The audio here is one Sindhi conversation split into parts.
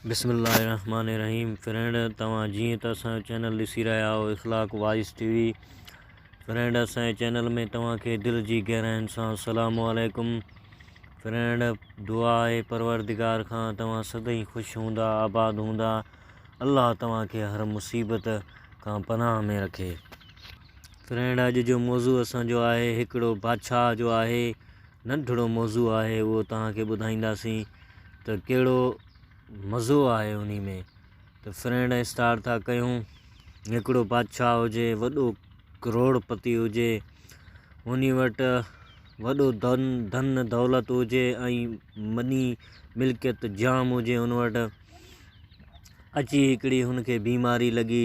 بسم الله الرحمٰن الرحيم فرينڊ توهان جيئن ته اسان جو چينل ڏسي رهيا آهو Akhlaq voice T V friend اسان جي چينل ۾ توهان کي دل جي گهراين سان السلام عليڪم فرينڊ دعا آهي پروردگار کان توهان سدائين خوش هوندا آباد هوندا الله توهان کي هر مصيبت کان پناهه ۾ رکي فرينڊ اڄ جو موضوع اسان جو آهي هڪڙو بادشاهه جو آهي ننڍڙو موضوع آهي اهو توهان کي ٻڌائينداسين ته ڪهڙو مزو آهي انهي ۾ ته فرينڊ ۽ اسٽار ٿا ڪيون هڪڙو بادشاهه هجي وڏو ڪروڙ پتي هجي انهي وٽ وڏو دن دن دولت هجي ۽ مني ملڪيت جام هجي ان وٽ اچي هڪڙي هن کي بيماري لڳي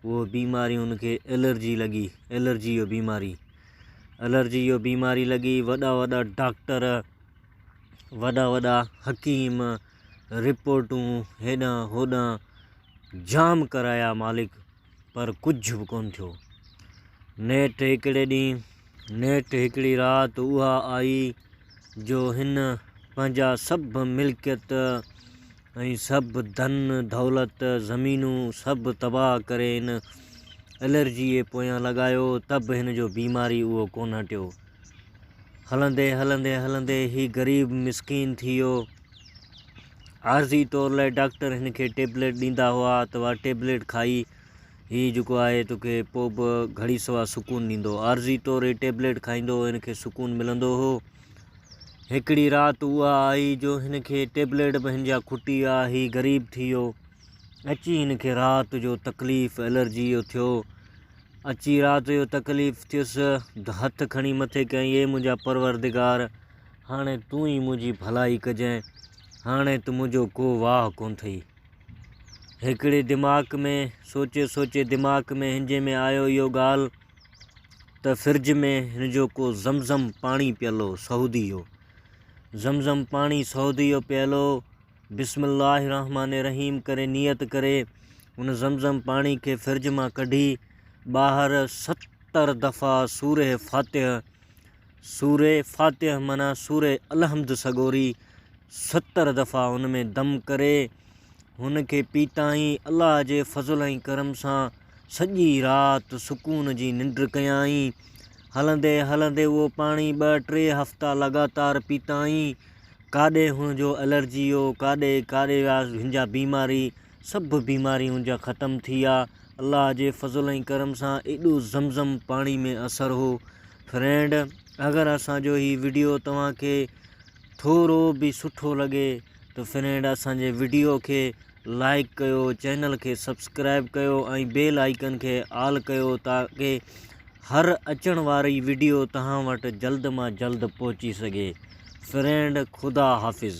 هو بيماري هن کي الرجي لڳي الرجي جو بيماري الرجي جو بيماري لڳي وڏا وڏا ڊاڪٽر وڏا وڏا حڪيم رپورٽون هيڏانهن هوڏانهن جام ڪرايا مالڪ پر ڪجهه به ڪونه ٿيو نيٺ هڪڙي ڏينهن نيٺ هڪڙي رات اها آئي جو هن پنهنجا سڀ ملڪيت ۽ سڀ ڌن دولت زمينون سڀ تباهه ڪري هن الرجيء پويان لڳايو ته به هن جو بيماري اهو ڪونه هٽيو. هلندي هلندي هلندي هي غريب مسڪين ٿي ويو. عارضي طور لاء ڊاڪٽر هن کي ٽيبليٽ ڏيندا هئا ته اها ٽيبليٽ کائي هي جيڪو آهي توکي پوء به گهڙي سوا سڪون ڏيندو. عارضي طور هي ٽيبليٽ کائيندو هو هن کي سڪون ملندو هو. هڪڙي رات اها آئي جو هن کي ٽيبليٽ به هن جا کٽي آ هي غريب ٿي ويو اچي هن کي رات جو تڪليف الرجي جو ٿيو اچي رات جو تڪليف ٿيس هٿ کڻي مٿي ڪيائين اي منهنجا پروردگار هاڻي تون ئي منهنجي ڀلائي ڪجين هاڻي ته منهنجو ڪو واهه ڪون ٿئي هڪڙي دماغ ۾ سوچي سوچي دماغ ۾ هنجي ۾ آيو اهو ڳالهه ته فرج ۾ هن جو ڪو زم زم پاڻي پيل هو سعودي جو زم زم پاڻي سعودي جو پيل هو بسم الله الرحمٰن الرحيم ڪري نيت ڪري ان زم زم پاڻي کي فرج مان ڪڍي ٻاهر ستر دفعا سوره فاتح سوره فاتح معنيٰ سوره الحمد سڳوري ستر دفعا ان ۾ دم ڪري هن کي پيتائين الله جي فضل ۽ ڪرم سان سڄي رات سڪون جي ننڊ ڪيائين. هلندي هلندي اهو پاڻي ٻه ٽي هفتا لڳاتار پيتائين. ڪاڏي هن جو الرجي هو، ڪاڏي ڪاڏي وياس هن جا بيماري سڀ بيماري هن جا ختم ٿي ويا. الله جي فضل ۽ ڪرم سان ايڏو زم زم پاڻي ۾ اثر هو. فرينڊ اگر اسان جو هي وڊيو توهان کي ٿورو به سٺو لڳي ته فرينڊ اسان جي وڊيو کي لائڪ ڪيو چينل کي سبسڪرائب ڪيو ۽ بيل آئيڪن کي آل ڪيو تاڪي هر اچڻ واري وڊيو تهان وٽ جلد مان جلد پهچي سگهي فرينڊ خدا حافظ.